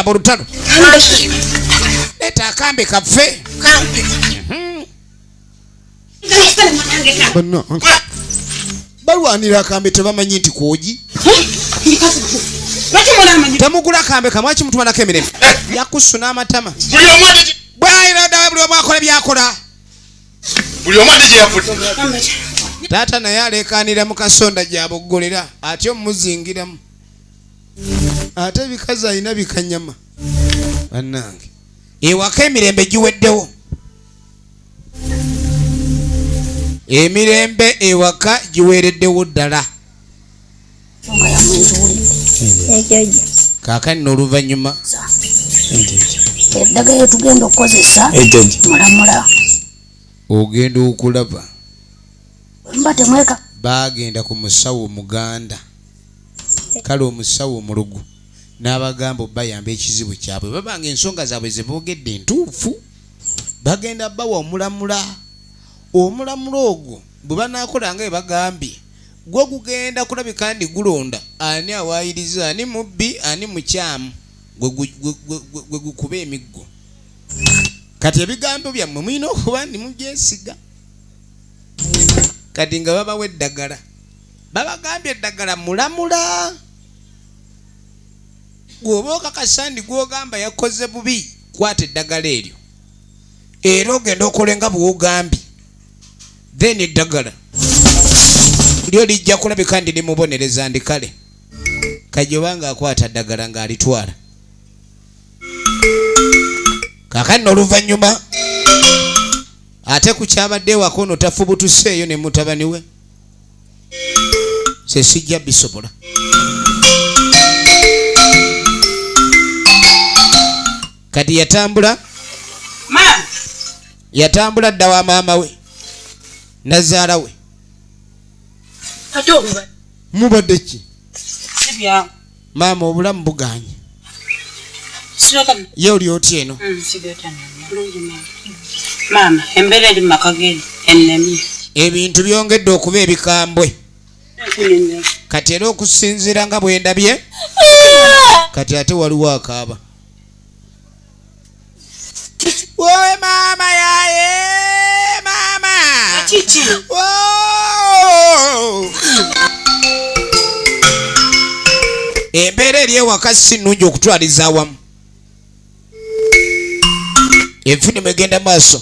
mulutalo leta akambe kaffe balwanira akambe tebamanyi nti kwogi temugula akambe kamwaki mutumanako emirembe yakusuna amatama bwayira ddala buli omu akola byakola buli omu ali gyeyavudde taata naye aleekaanira mu kasonda gyaboggolera ate omumuzingiramu ate ebikazi alina bikanyama bannange ewaka emirembe giweddewo emirembe ewaka giweereddewo ddala kaakani n'oluvannyuma eddagala lyetugenda okukozesa mulamula ogenda okulaba mba temweka baagenda ku musawo muganda kale omusawo omulugu n'abagamba obayamba ekizibu kyabwe babanga ensonga zaabwe ze boogedde entuufu bagenda bawa omulamula omulamula ogwo bwe banaakola nga ebagambye gwo gugenda kulabika ndi gulonda ani awaayiriza ani mubbi ani mukyamu gwe gukuba emiggo kati ebigambo byammwe mulina okuba ndi mubyesiga kati nga babawa eddagala babagambye eddagala mulamula gwoba okakasa ndi gwogamba yakoze bubi kwata eddagala eryo era ogenda okolenga bwogambye then eddagala lyo lijja kulabika ndi limubonereza ndi kale kajoba nga akwata ddagala ng'alitwala kakanno oluvannyuma ate ku kyabadde ewaka ono tafubutuseeyo ne mutabani we se sijja bisobola kati yatambula yatambula dda wa maama we nazaala we mubadde ki maama obulamu buganye ye oli otya eno mm, ebintu byongedde okuba ebikambwe kati era okusinziira nga bwendabye kati ate waliwo akaaba Wowe mama yaye mama. Kiki? Woo! embeera eri ewaka si nnungi okutwaliza awamu enfunimu egenda maaso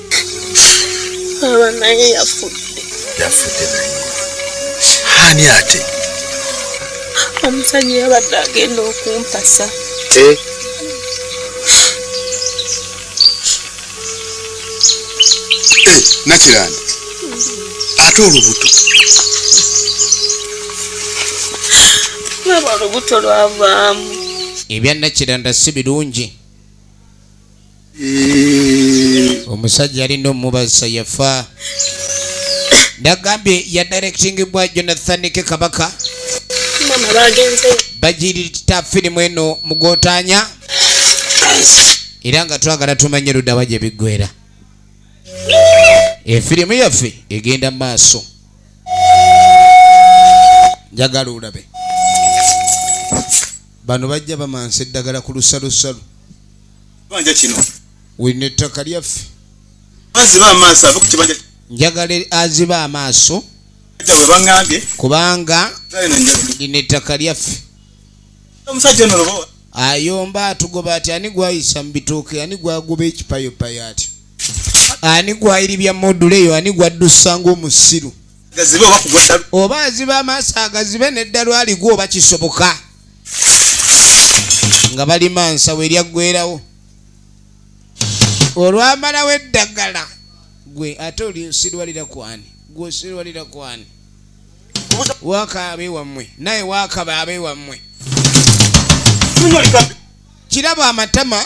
aba naye yafudde yafudde naye ani ate omusajja yabadde agenda okumpasa eh? eh, nakiranda ate olubuto aba olubuto lwavaamu ebya nakiranda si birungi omusajja yalina omubazisa yafa nagambye yadirectingbwa jonathan ke kabaka bagirita firimu eno mugotanya era nga twagala tumanye ludawa gye biggwera efirimu yaffe egenda mu maaso njagala olabe bano bajja bamansa eddagala ku lusalusalu kibanja kino wino ettaka lyaffe aziba amaaso ave ku kibanja njagala aziba amaaso bangambye kubanga lino ettaka lyaffe omusajja ono lobowa ayomba atugoba ati ani gwayisa mu bitooke ani gwagoba ekipayopaya ati ani gwayiribya module eyo ani gwaddusa ngaomusiru oba aziba amaaso agazibe neddalu aligwa oba kisoboka nga balima nsawo eryaggwerawo olwamalawo eddagala gwe ate olisirwalira kwani gwe osirwalira kwani waka abewammwe naye wakaba abewammwe kirabo amatama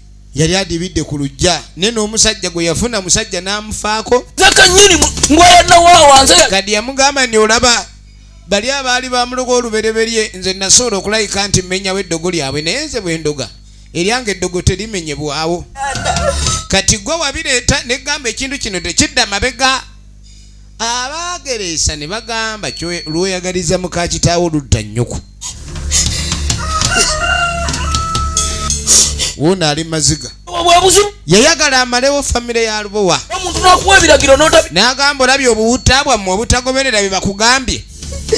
yali adibidde ku lujja naye n'omusajja gwe yafuna musajja n'amufaako zakanyini ngweyanawawanze kadi yamugamba nti olaba bali abaali bamuloga olubereberye nze nasobola okulayika nti mmenyawo eddogo lyabwe naye nze bwe ndoga eryanga eddogo terimenyebwawo kati gwe wabireeta negamba ekintu kino tekidda mabega Abaagereesa ne bagamba lw'oyagaliza muka kitaawo ludda nnyoko. Wuuno ali maziga. Yayagala amalewo famire ya Lubowa. N'agamba olabye obuwutta bwammwe obutagoberera bye bakugambye.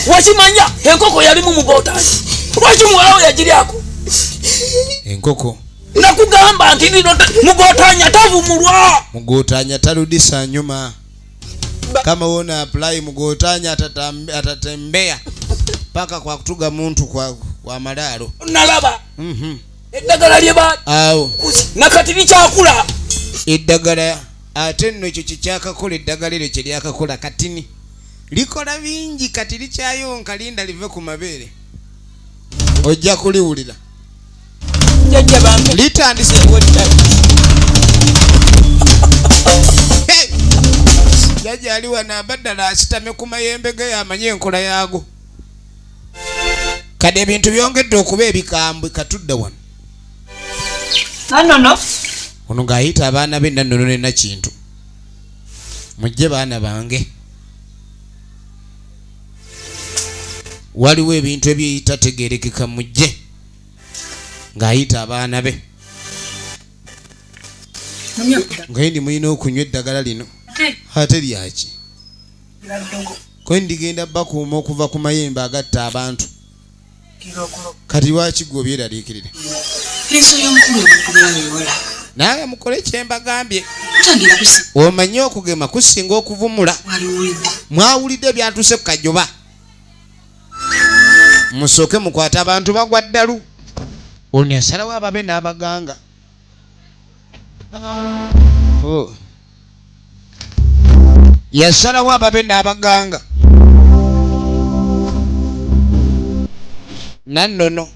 Wakimanya enkoko yalimu mu bootaali. Lwaki muwalawo yagiryako? Enkoko. Nakugamba nti lino mugotanya tavumulwa. Mugotanya taludisa nyuma. kama wona apply mugotanya atatembea paka kwa kutuga muntu kwa, kwa malaro nalaba mm -hmm. eddagala lyeba awo nakati likyakula eddagala ate nno ekyo kyekyakakola eddagala eryo kyeryakakola katini likola bingi kati likyayonka linda live ku mabeere ojja kuliwulira litandise jajja ali wano abaddala asitame ku mayembe ge yamanye enkola yaago kade ebintu byongedde okuba ebikambwe katudde wano nanono ono ng'ayita abaana be nanono nena kintu mujje baana bange waliwo ebintu ebyeyitategerekeka mujje ng'ayita abaana be ngaye ndi mulina okunywa eddagala lino ate lyaki kwe ndigenda bakuuma okuva ku mayembe agatta abantu kati lwaki gwe obyeraliikirire naawe mukole kyembagambye omanye okugema kusinga okuvumula mwawulidde byatuuse ku kajoba musooke mukwate abantu bagwa ddalu ono yasalawo ababe n'abaganga oh. yasalawo ababe n'abaganga nannono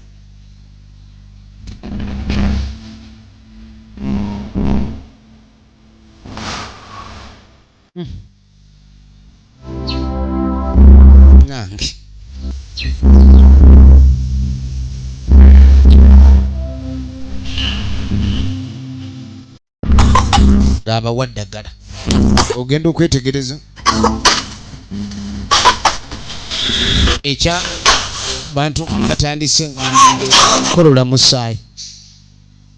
ng'abawa ddagala ogenda okwetegereza ekya bantu batandise kukolola musaayi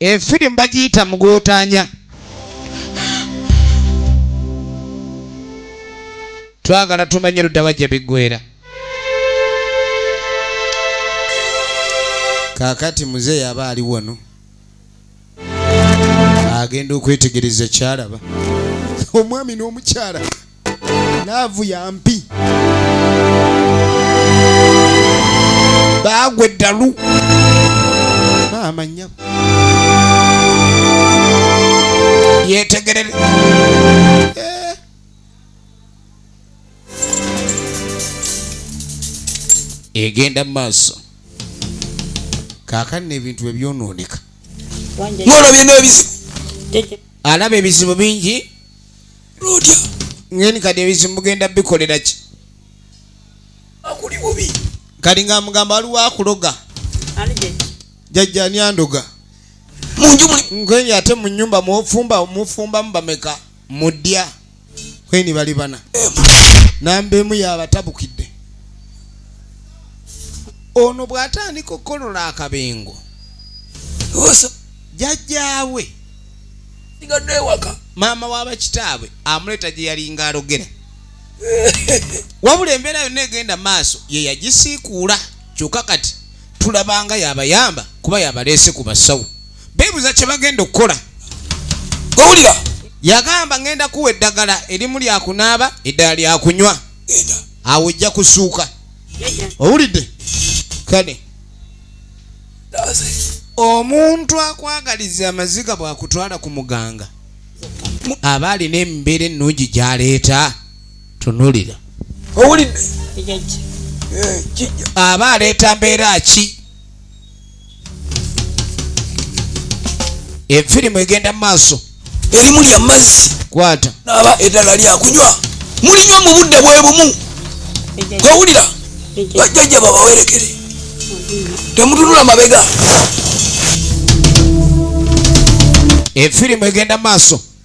efirimu eh, bagiyita mugootanya twagala tumanye luddawa gye biggwera kaakati muzeeyi aba ali wano agenda okwetegereza kyalaba omwami n'omukyala laavu yampi baagwa eddalu maama nyabo yetegerere eh. egenda mu maaso kaakani n'ebintu bwe byonooneka ng'olwo birina ebizibu alaba ebizibu bingi lutya ngeni kati ebizibu mugenda bikolera ki kati nga mugamba waliwo akuloga jajja ani andoga nkenya ate mu nyumba mufumba mufumbamu bameka mudya kweni bali bana namba emu yabatabukidde ono bw'atandika okukolola akabengo jajjaawe sigadde ewaka maama wabakitaabwe amuleeta gye yalinga alogera wabula embeera yonna egenda maaso ye yagisiikuula kyokka kati tulabanga yabayamba kuba yabaleese ku basawo beebuza kye bagenda okukola owulira yagamba ngenda kuwa eddagala erimu lyakunaaba eddala lyakunywa awo ojja kusuuka owulidde kale omuntu akwagaliza amaziga bwakutwala ku muganga aba alina embeera ennungi gyaleeta tunulira owulidde eh, aba aleeta mbeera ki efirimu egenda mu maaso erimu lya mazzi kwata naaba eddala lyakunywa mulinywa mu budde bwe bumu owulira bajjajja babawerekere temutunula mabega efirimu egenda maaso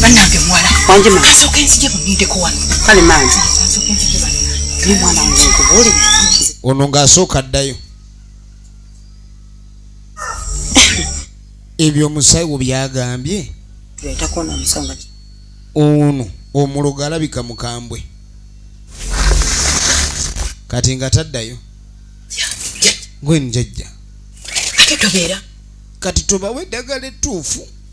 banange muwala kasooka enzije munindeko wano kale mangi kasooka enzije naye mwana wange nkubuulire ono ng'asooka addayo ebyo omusayi wo byagambye ono omulogo alabika mukambwe kati nga taddayo gwenjajja kati tobawa eddagala ettuufu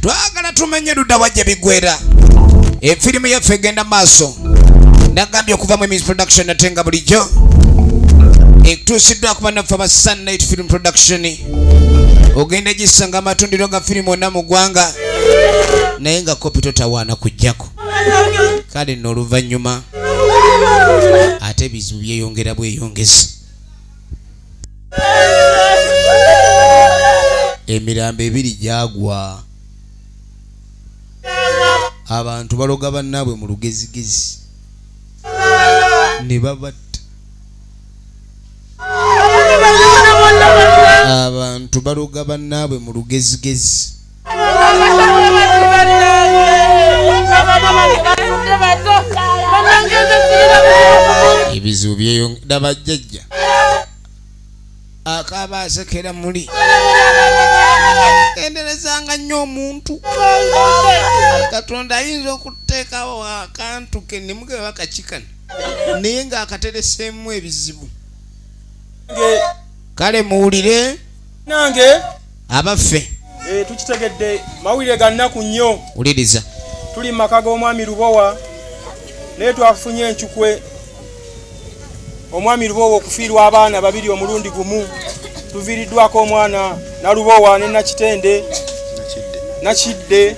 twagala tumenye ludda wajja bigwera efirimu yaffe egenda maaso nagambye okuva mu emis production ate nga bulijjo ekutuusiddwa kuba naffe aba sunlight film production ogenda gisanga amatundiro ga firimu ona mu ggwanga naye nga kopi totawaana kujjako kale nno oluvannyuma ate ebizibu byeyongera bweyongezi emirambo ebiri gyagwa abantu baloga bannaabwe mu lugezigezi ne babatta abantu baloga bannaabwe mu lugezigezi ebizibu byeyongedda bajjajja akaaba asekera muli enderezanga nnyo omuntu katonda ayinza okuteekawo akantu ke nemugebe bakakikana naye ng'akatereseemu ebizibu kale muwulire nange abaffe eh, tukitegedde mawulire ga nnaku nnyo wuliriza tuli mu maka g'omwami lubowa naye twafunye encukwe omwami lubowa okufiirwa abaana babiri omulundi gumu tuviiriddwako omwana nalubowa ne nakitende nakidde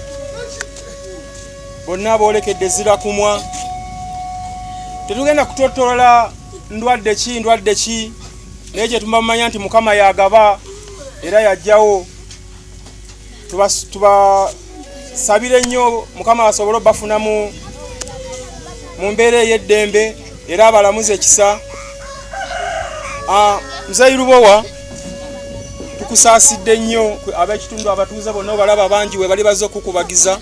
bonna boolekedde zirakumwa tetugenda kutottolola ndwadde ki ndwadde ki naye kyetumamanya nti mukama yagaba era yajjawo tubasabire tuba nnyo mukama asobole obafuna mu mu mbeera ey'eddembe era abalamuze ekisa ah, mzeyi lubowa tukusaasidde nnyo ab'ekitundu abatuuze bonna obalaba bangi we bali bazze okukubagiza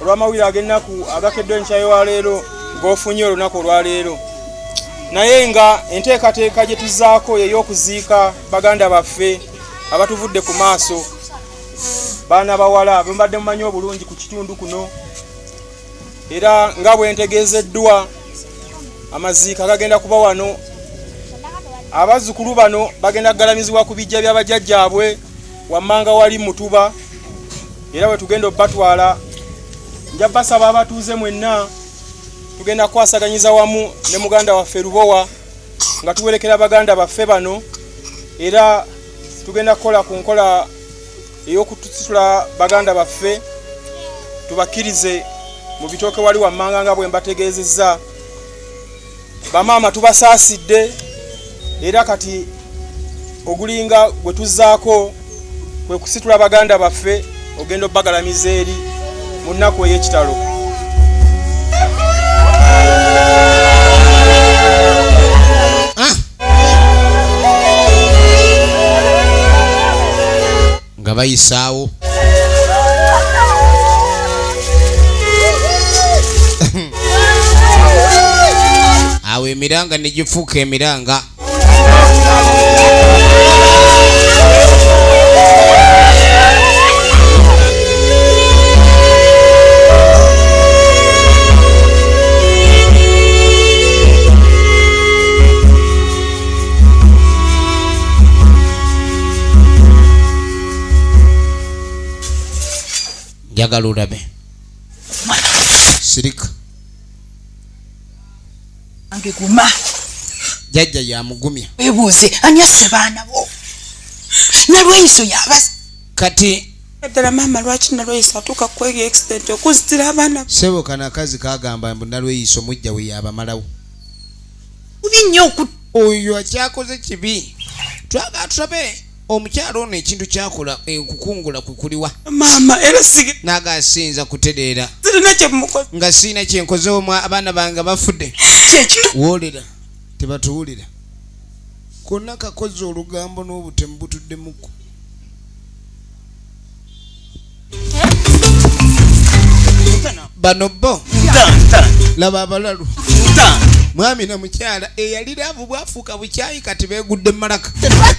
olw'amawulire ag'ennaku agakeddwa enkya wa leero g'ofunye olunaku olwaleero naye nga enteekateeka gye tuzaako yey'okuziika baganda baffe abatuvudde ku maaso baana bawala bwembadde mumanyi obulungi ku kitundu kuno era nga bwentegeezeddwa amaziika gagenda kuba wano abazzukulu bano bagenda kugalamizibwa ku bijja by'abajjajjaabwe wammanga wali mutuba era bwe tugenda obatwala nja basaba abatuuze mwenna tugenda kukwasaganyiza wamu ne muganda waffe lubowa nga tuwerekera baganda baffe bano era tugenda kukola ku nkola ey'okutusitula baganda baffe tubakkirize mu bitooke wali wammanga nga bwe mbategeezezza bamaama tubasaasidde era kati ogulinga gwe tuzzaako kwe kusitula baganda baffe ogenda obagalamiza eri mu nnaku ey'ekitalo nga bayisaawo awo emiranga ne gifuuka emiranga njagala olabe sirika ange guma jajja yamugumya webuuze ani asse baana bo nalweyiso yabaza kati ddala maama lwaki nalweyiso atuuka kweyo exident okuzitira abaana sebo kanakazi kagamba mbu nalweyiso mujja we yabamalawo bubi nnyo oku oyo akyakoze kibi twagala tulabe omukyalo ono ekintu kyakola eh, okukungula kwe kuliwa maama era sige naaga asiyinza kutereera sirina kyemukoze nga sirina kyenkozewo mwa abaana bange bafudde kyekino woolera tebatuwulira konna kakoze olugambo n'obutemu butuddemuko bano bo laba abalalu mwami na mukyala eyali laavu bwafuuka bukyayi kati begudde malaka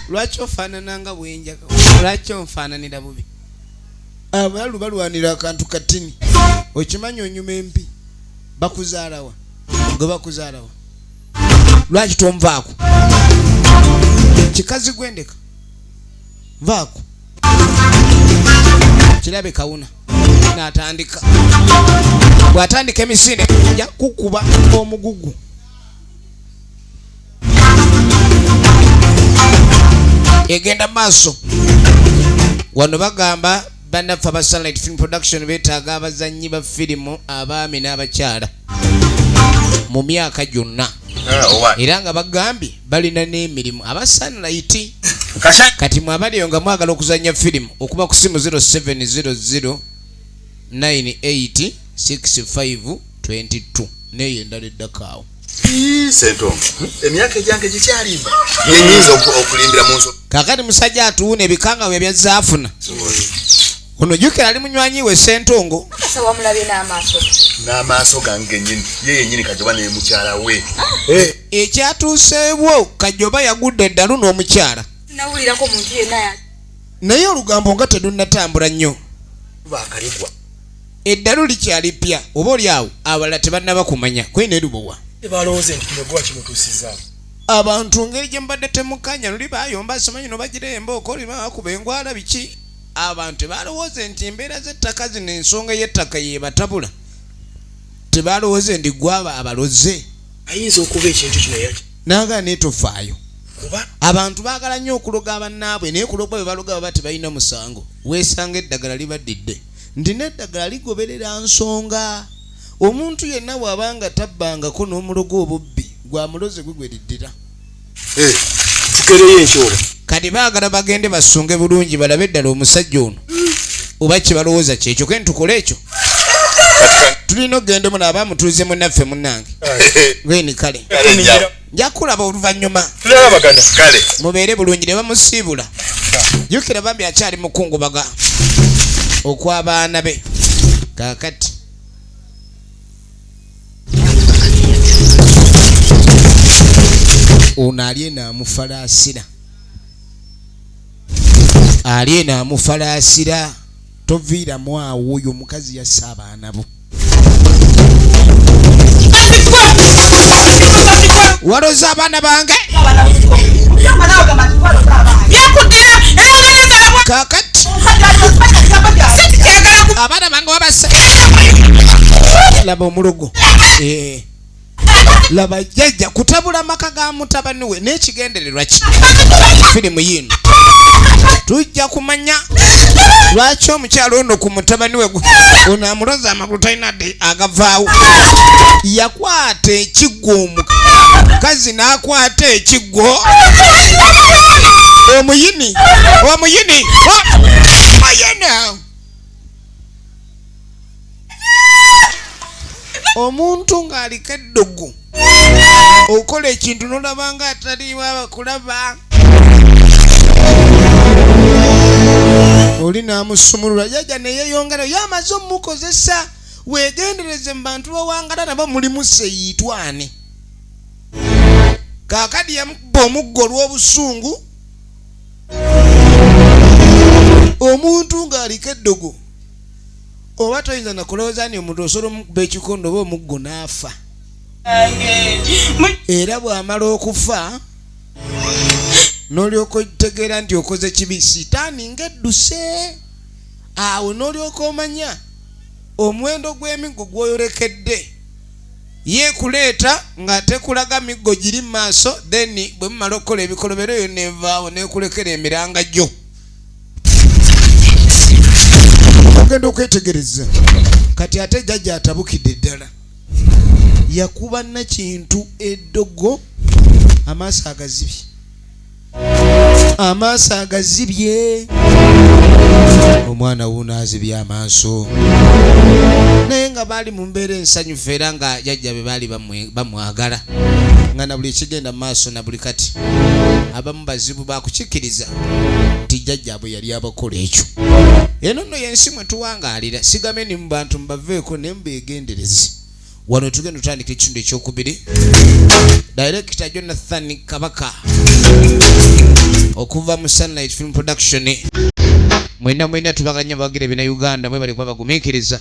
lwaki ofaanana nga bwenjaga lwaki onfaananira bubi abalalu balwanira akantu katini okimanyi onyuma empi bakuzaalawa gwe bakuzaalawa lwaki tonvaako kikazi gwendeka vaako kirabe kawuna natandika bwatandika emisinde ja kukuba omugugu egenda maaso wano bagamba bannaffe aba sunlight film production betaaga abazannyi ba firimu abaami n'abakyala mu myaka gyonna ah, era nga bagambye balina n'emirimu aba sunlight kati mwabaliyo nga mwagala okuzannya firimu okuba ku simu 0700 986522 neyo endala eddakaawo kakati musajja atuwuna ebikanga bwe byazza afuna ono jukira ali munywanyi we sentongo n'amaaso gange genyini ye yenyini kajoba naye mukyala we ah. eh. ekyatuuseewo kajoba yagudde eddalu n'omukyala naye olugambo nga terunnatambula nnyo Eddalu likyali ppya oba oli awo abalala tebannaba kumanya kwe ne lubowa. Balowooze nti kino guwa kimutuusizaawo. Abantu ngeri gye mubadde temukanya luli bayomba simanyi no bagira embooko oli bakuba engwala biki abantu tebalowooze nti embeera z'ettaka zino ensonga y'ettaka yebatabula tebalowooze ndi gwaba abaloze ayinza okuba ekintu kino yaki naga netofaayo kuba abantu baagala nnyo okuloga abannaabwe naye kuloga bwe baloga baba tebalina musango weesanga eddagala libaddidde nti n'eddagala ligoberera nsonga omuntu yenna bw'aba nga tabbangako n'omulogo obubbi gwa mulozi gwe gwe liddira eh, kikereyo enkyola kati baagala bagende basunge bulungi balabe ddala omusajja ono oba kye balowooza kyekyo ke ntukole ekyo tulina okugenda omuno aba mutuuze munaffe munnange gweni kale nja kulaba oluvannyuma tulabagana kale mubeere bulungi ne bamusiibula jukira bambi akyali mukungubaga okw'abaana be kakati ono ali eno amufalaasira ali eno amufalaasira toviiramu awo oyo omukazi yasse abaana bo waloza abaana bange kakati abaana bange wabasa laba omulogo eh. laba jjajja kutabula maka ga mutabani we n'ekigendererwa ki firimu yiino tujja kumanya lwaki omukyalo ono ku mutabani we ono amuloza amagulu talina de agavaawo yakwata ekiggo omukazi n'akwata ekiggo omuyini omuyini oh! ayana omuntu ng'aliko eddugu okola ekintu nolaba nga ataliwo abakulaba oli n'amusumulula jajja neyeyongera yo amaze omukozesa wegendereze mu bantu bawangala nabo mulimu seyiitwane kakadi yamukuba omuggo olw'obusungu omuntu ng'aliko eddogo oba toyinza nakulowooza ni omuntu osobola omukuba ekikondo oba omuggo n'afa era bw'amala okufa n'olyoka otegeera nti okoze kibi sitaani ng'edduse awo n'olyoka omanya omuwendo gw'emiggo gw'oyolekedde yeekuleeta nga tekulaga miggo giri mu maaso then bwe mumala okukola ebikolobero eyo nevaawo neekulekera emiranga gyo ogenda okwetegereza kati ate jajja atabukidde ddala yakuba nakintu eddogo amaaso agazibye amaaso agazibye omwana wuuno azibye amaaso naye nga baali mu mbeera ensanyufu era nga jajja be baali bamu bamwagala nga na buli ekigenda mu maaso na buli kati abamu bazibu bakukikkiriza nti jjajjaabwe yali abakola ekyo eno nno yensi mwe tuwangaalira sigame ni mu bantu mubaveeko ne mubeegendereze wano tugenda otandika ekitundu ekyokubiri direkita jonathan kabaka okuva mu sunlight film production mwena mwena tubaganya bagira ebina uganda mwe balikuba bagumiikiriza